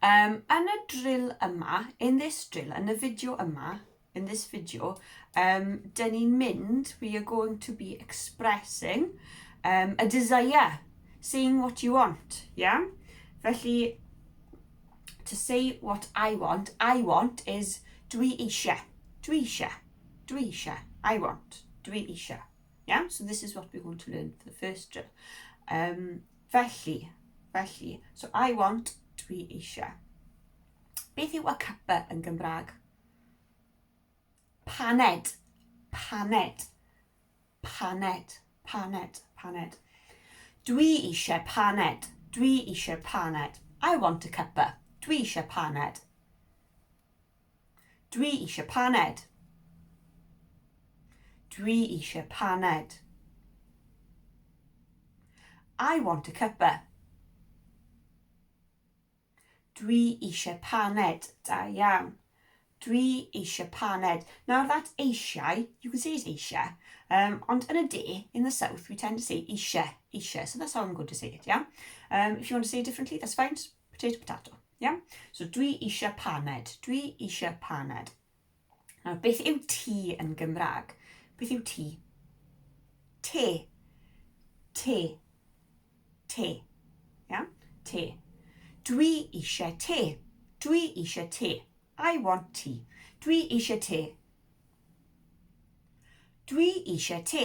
Um, yn y drill yma, in this drill, yn y fideo yma, in this video, um, dyn ni'n mynd, we are going to be expressing um, a desire, saying what you want, yeah? Felly, to say what I want, I want is dwi eisiau, dwi eisiau, dwi eisiau, I want, dwi eisiau. Yeah, so this is what we're going to learn for the first drill. Um, Felly, felly, so I want, dwi eisiau. Beth yw a cuppa yn Gymraeg? Paned, paned, paned, paned, paned. Dwi eisiau paned, dwi eisiau paned. I want a cuppa, dwi eisiau paned. Dwi eisiau paned. Dwi eisiau paned. I want a cuppa. Dwi eisiau paned. Da iawn. Dwi eisiau paned. Nawr that eisiau, you can say it eisiau, um, ond yn y de, in the south, we tend to say eisiau, eisiau. So that's how I'm going to say it, yeah? Um, if you want to say it differently, that's fine. Potato, potato. Yeah? So dwi eisiau paned. Dwi eisiau paned. Nawr, beth yw ti yn Gymraeg? Beth yw ti? Te. Te. Te. Yeah? Te. Dwi eisiau te. Dwi eisiau te. I want tea. Dwi eisiau te. Dwi eisiau te.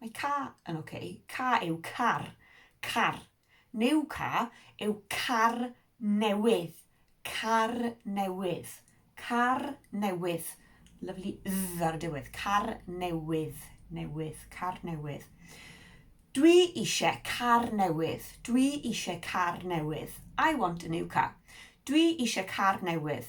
Mae ca yn ok. Ca yw car. Car. New ca yw car newydd. Car newydd. Car newydd. Lyfli dd ar y diwedd. Car newydd. Newydd. Car newydd. Dwi eisiau car newydd. Dwi eisiau car newydd. I want a new car. Dwi eisiau car newydd.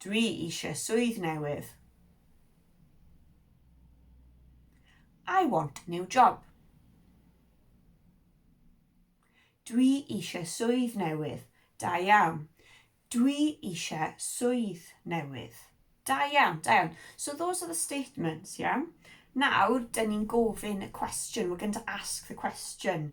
Dwi eisiau swydd newydd. I want a new job. Dwi eisiau swydd newydd. Da iawn. Dwi eisiau swydd newydd. Da iawn, da iawn. So those are the statements, yeah? Nawr, dyn ni'n gofyn y cwestiwn. We're going to ask the question.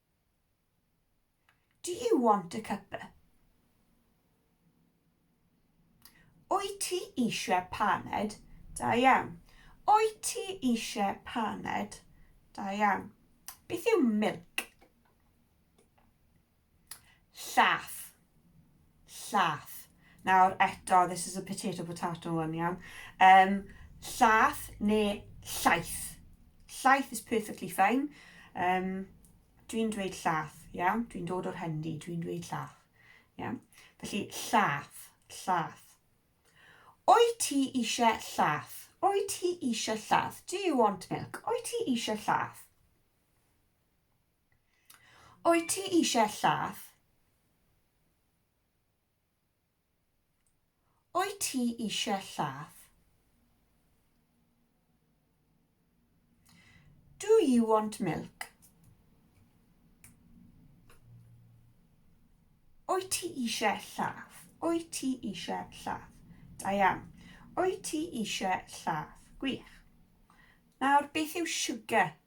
Do you want a cuppa? Wyt ti eisiau paned? Da iawn. Wyt ti eisiau paned? Da iawn. Beth yw milk? Llath. Llath. Nawr eto, this is a potato potato one, iawn. Um, llath neu llaeth. Llaeth is perfectly fine. Um, dwi'n dweud llath, iawn. Dwi'n dod o'r hendi, dwi'n dweud llath. Iawn. Felly, llath, llath. Oi ti eisiau llath? Oi ti eisiau llath? Do you want milk? Oi ti eisiau llath? Wyt ti eisiau llath? Wyt ti eisiau llath? Do you want milk? Wyt ti eisiau llath? Wyt ti eisiau llath? Da iawn. Wyt ti eisiau llath? Gwych. Nawr, beth yw sugar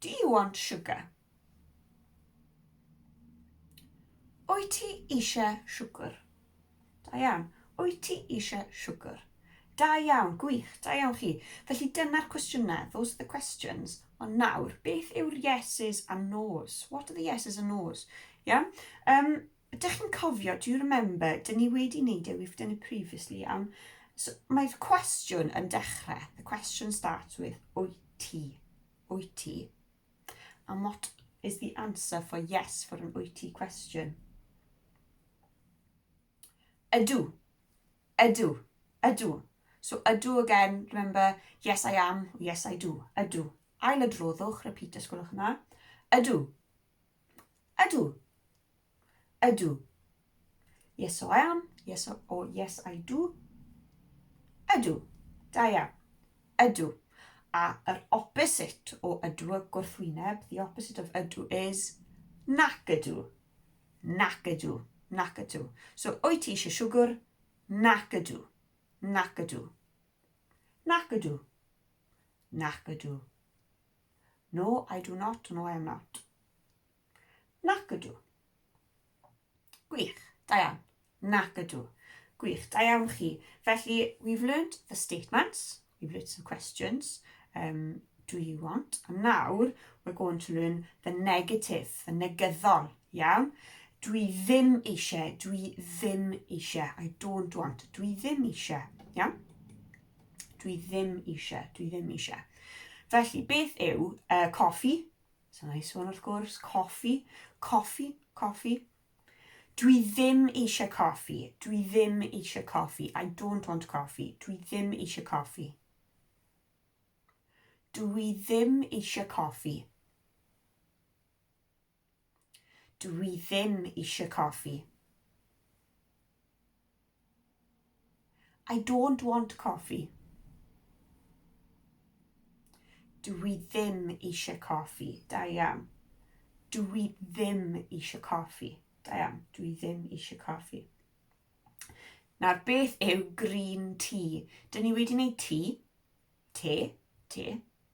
Do you want sugar? Wyt ti eisiau siwgr? Da iawn. Wyt ti eisiau siwgr? Da iawn, gwych, da iawn chi. Felly dyna'r cwestiynau, those are the questions. Ond nawr, beth yw'r yeses a nos? What are the yeses and nos? Iawn? Um, Dych chi'n cofio, do you remember, dyn ni wedi wneud e, we've done it previously, am... So, mae'r cwestiwn yn dechrau, the question starts with, wyt ti? Wyt ti? And what is the answer for yes for an wyt ti question? Ydw. Ydw. Ydw. So ydw again, remember, yes I am, yes I do, ydw. Ail adroddwch, repeat os gwelwch yna. Ydw. Ydw. Ydw. Yes, so I am. Yes, so, or yes, I do. Ydw. Da iawn. Ydw. A yr opposite o ydw y gwrthwyneb, the opposite of ydw is nac ydw. Nac ydw. Nac ydw. So, o'i ti eisiau siwgr? Nac ydw. Nac ydw. Nac ydw. Nac ydw. No, I do not. No, I am not. Nac ydw. Gwych, da iawn. Nac ydw. Gwych, da iawn chi. Felly, we've learnt the statements, we've learnt some questions, um, do you want? A nawr, we're going to learn the negative, the negyddol, iawn? Dwi ddim eisiau, dwi ddim eisiau, I don't want, dwi ddim eisiau, iawn? Dwi ddim eisiau, dwi ddim eisiau. Felly, beth yw uh, coffi? So na i sôn wrth gwrs, coffi, coffi, coffi. Dwi ddim eisiau coffi, dwi ddim eisiau coffi, I don't want coffi, dwi ddim eisiau coffi. Dwi ddim eisiau coffi. Dw i ddim eisiau coffi. I don't want coffee. Dw i ddim eisiau coffi. Da iawn. Dw i ddim eisiau coffi. Da iawn. Dw i ddim eisiau coffi. Nawr, beth yw green tea? Dyn ni wedi wneud tea, te, te,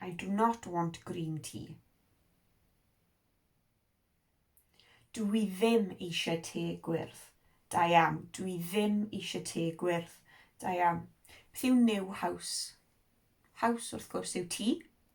I do not want green tea. Dw i ddim eisiau te gwyrdd. Da iawn. Dw i ddim eisiau te gwyrdd. Da iawn. Beth yw new house? House, wrth gwrs, yw tŷ.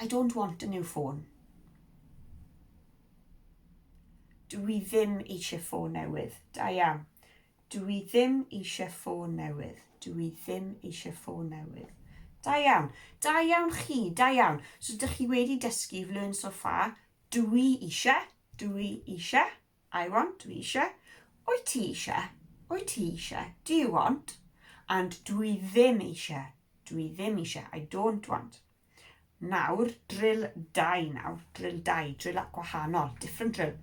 I don't want a new phone. Dw i ddim eisiau ffôn newydd. Da iawn. Dw i ddim eisiau ffôn newydd. Dw i ddim eisiau ffôn newydd. Da iawn. Da iawn chi. Da iawn. So dych chi wedi dysgu, you've learned so far, dw i eisiau, dw i eisiau. I want, dwi eisiau. Wyt ti eisiau? Wyt ti eisiau? Do you want? And dwi ddim eisiau. Dwi ddim eisiau. I don't want. Nawr, drill dau nawr. Drill dau, drill at gwahanol. Different drill.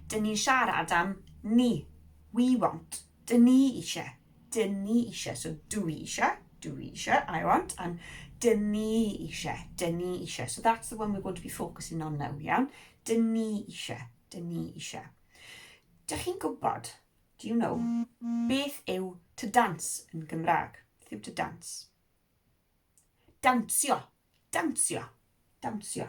Dyn ni'n siarad am ni. We want. Dyn ni eisiau. Dyn ni eisiau. So dw i eisiau. Dw i eisiau. I want. And dyn ni eisiau. Dyn ni eisiau. So that's the one we're going to be focusing on now, iawn? Dyn ni eisiau. Dyn ni eisiau. Dych chi'n gwybod, do you know, beth yw to dance yn Gymraeg? Beth yw to dance? Dawnsio. Dawnsio. Dawnsio.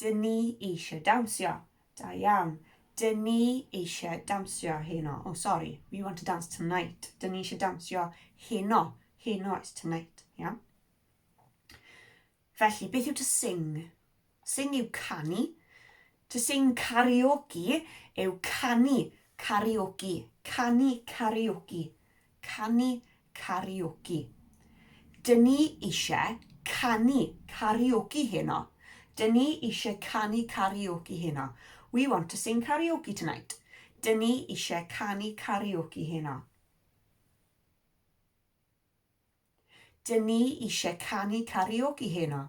Dyn ni eisiau dawnsio. Da iawn. Dyn ni eisiau dawnsio heno. Oh, sorry. We want to dance tonight. Dyn ni eisiau dawnsio heno. Heno is tonight. Iawn. Felly, beth yw to sing? Sing yw canu. To sing karaoke yw canu karaoke, canu karaoke, canu karaoke. Dyn ni eisiau canu karaoke heno. Dyn ni eisiau canu karaoke heno. We want to sing karaoke tonight. Dyn ni eisiau canu karaoke heno. Dyn ni eisiau canu karaoke heno.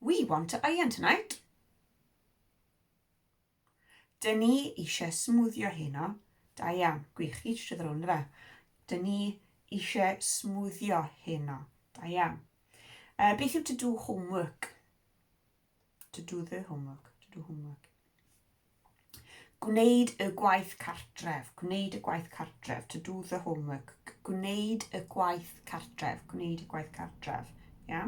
We want to iron tonight. Dyn ni eisiau smwddio heno. Da iawn, gwych, chi eisiau ddod rownd fe. Dyn ni eisiau smwddio heno. Da iawn. Uh, beth yw to do homework? To do the homework, to do homework. Gwneud y gwaith cartref. Gwneud y gwaith cartref. To do the homework. Gwneud y gwaith cartref. Gwneud y gwaith cartref. Ia?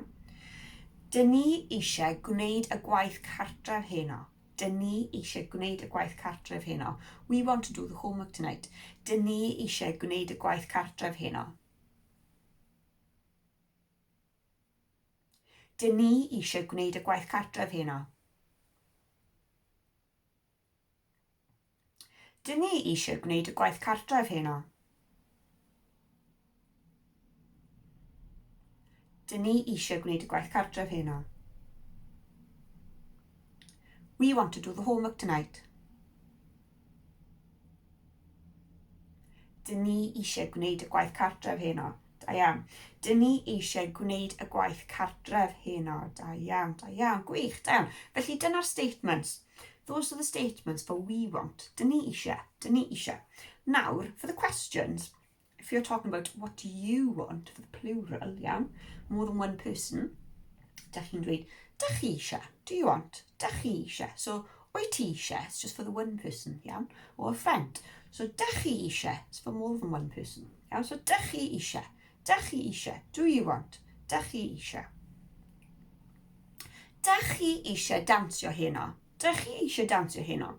Dyn ni eisiau gwneud y gwaith cartref heno. Dyn ni eisiau gwneud y gwaith cartref heno. We want to do the homework tonight. Dyn ni eisiau gwneud y gwaith cartref heno. Dyn ni eisiau gwneud y gwaith cartref heno. Dyn ni eisiau gwneud y gwaith cartref heno. Dyn ni eisiau gwneud y gwaith cartref heno. We want to do the homework tonight. Dyn ni eisiau gwneud y gwaith cartref heno. Da iawn. Dyn ni eisiau gwneud y gwaith cartref heno. Da iawn, da iawn, gwych, da iawn. Felly dyna'r statements. Those are the statements for we want. Dyn ni eisiau, dyn ni eisiau. Nawr, for the questions, If you're talking about what do you want for the plural, iawn, more than one person, da chi'n dweud, da chi eisiau, do you want, da chi eisiau. So, o'i ti eisiau, it's just for the one person, iawn, or a friend. So, da chi eisiau, it's for more than one person. Iawn, so da chi eisiau, da chi eisiau, do you want, da chi eisiau. Da chi eisiau dawnsio heno, da chi eisiau dawnsio heno.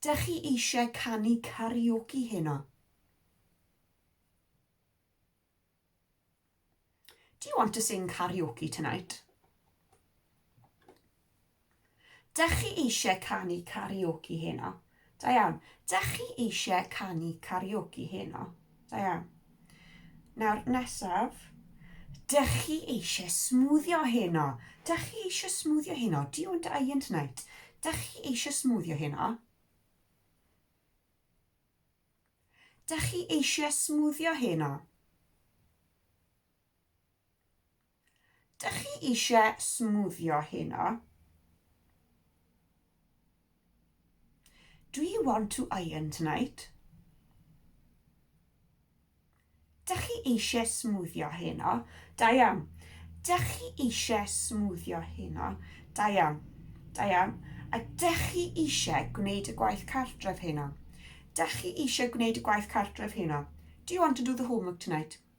Dych chi eisiau canu karaoke heno? Do you want to sing karaoke tonight? Dych chi eisiau canu karaoke heno? Da iawn. Dych chi eisiau canu karaoke heno? Da iawn. Nawr, nesaf. Dych chi eisiau smwddio heno? Dych chi eisiau smwddio heno? Do you want to iron tonight? Dych chi eisiau smwddio heno? Dych chi eisiau smwddio heno? Dych chi eisiau smwddio heno? Do you want to iron tonight? Dych chi eisiau smwddio heno? Da iawn. Dych chi eisiau smwddio heno? Da iawn. Da iawn. A dych chi eisiau gwneud y gwaith cartref heno? Dych chi eisiau gwneud y gwaith cartref heno? Do you want to do the homework tonight?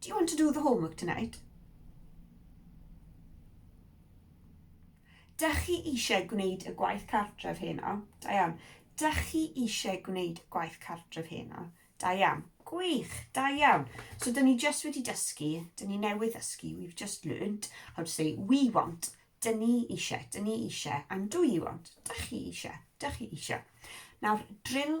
Do you want to do the homework tonight? Dych chi eisiau gwneud y gwaith cartref heno? Da iawn. Dych chi eisiau gwneud y gwaith cartref heno? Da iawn. Gwych, da iawn. So, dyn ni just wedi dysgu, dyn ni newydd ddysgu, we've just learned how to say we want, dyn ni eisiau, dyn ni eisiau, and do you want, dych chi eisiau, dych chi eisiau. Nawr, drill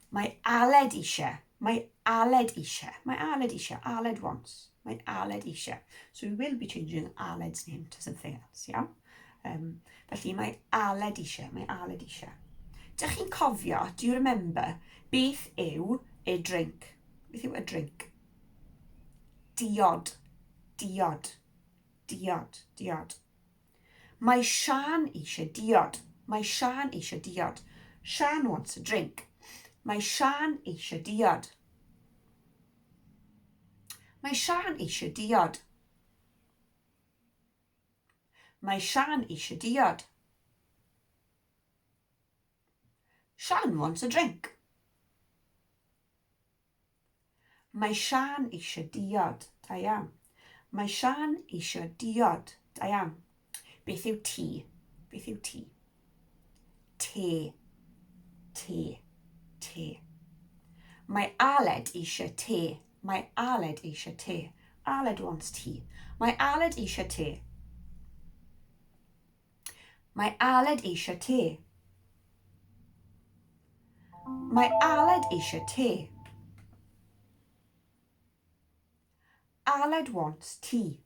Mae Aled eisiau. Mae Aled eisiau. Mae Aled eisiau. Aled wants. Mae Aled eisiau. So we will be changing Aled's name to something else, iawn? Yeah? Um, felly mae Aled eisiau. Mae Aled eisiau. Dych chi'n cofio, do you remember, beth yw a drink? Beth yw a drink? Diod. Diod. Diod. Diod. Mae Siân eisiau diod. Mae Siân eisiau diod. Siân wants a drink. Mae Siân eisiau diod. Mae Siân eisiau diod. Mae Siân eisiau diod. Siân wants a drink. Mae Siân eisiau diod, da iawn. Mae Siân eisiau diod, da iawn. Beth yw ti? Beth yw ti? Te. Te. Te. Mae Aled eisiau te. Mae Aled eisiau te. Aled wants tea. Mae Aled eisiau te. Mae Aled eisiau te. Mae Aled eisiau te. Aled wants tea.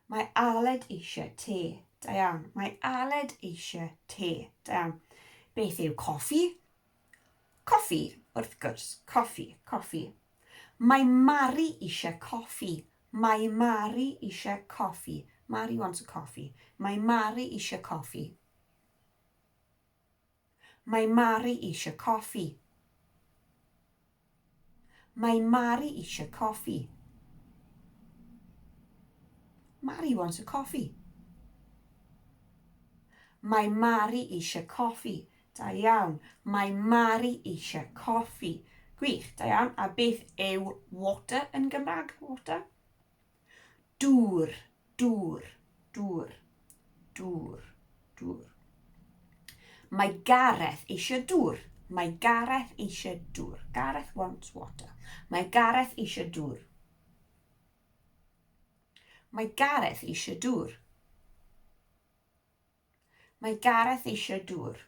Mae Aled eisiau te. Da iawn. Mae Aled eisiau te. Da iawn. Beth yw coffi? Coffi, wrth gwrs, coffi, coffi. Mae Mari eisiau coffi. Mae Mari eisiau coffi. Mari wants a coffee. Mae Mari eisiau coffi. Mae Mari eisiau coffi. Mae Mari eisiau coffi. Mari wants a coffee. Mae Mari eisiau coffi. Da iawn. Mae Mari eisiau coffi. Gwych, da iawn. A beth yw water yn Gymraeg? Water? Dŵr, dŵr, dŵr, dŵr, dŵr. Mae Gareth eisiau dŵr. Mae Gareth eisiau dŵr. Gareth wants water. Mae Gareth eisiau dŵr. Mae Gareth eisiau dŵr. Mae Gareth eisiau dŵr.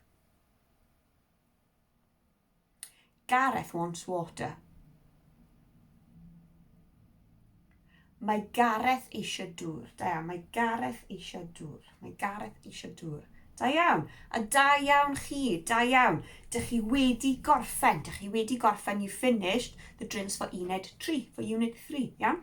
Gareth wants water. Mae Gareth eisiau dŵr. Da iawn, mae Gareth eisiau dŵr. Mae Gareth eisiau dŵr. Da iawn. A da iawn chi, da iawn. Dych chi wedi gorffen, dych chi wedi gorffen, you finished the drills for unit 3, for unit 3, iawn?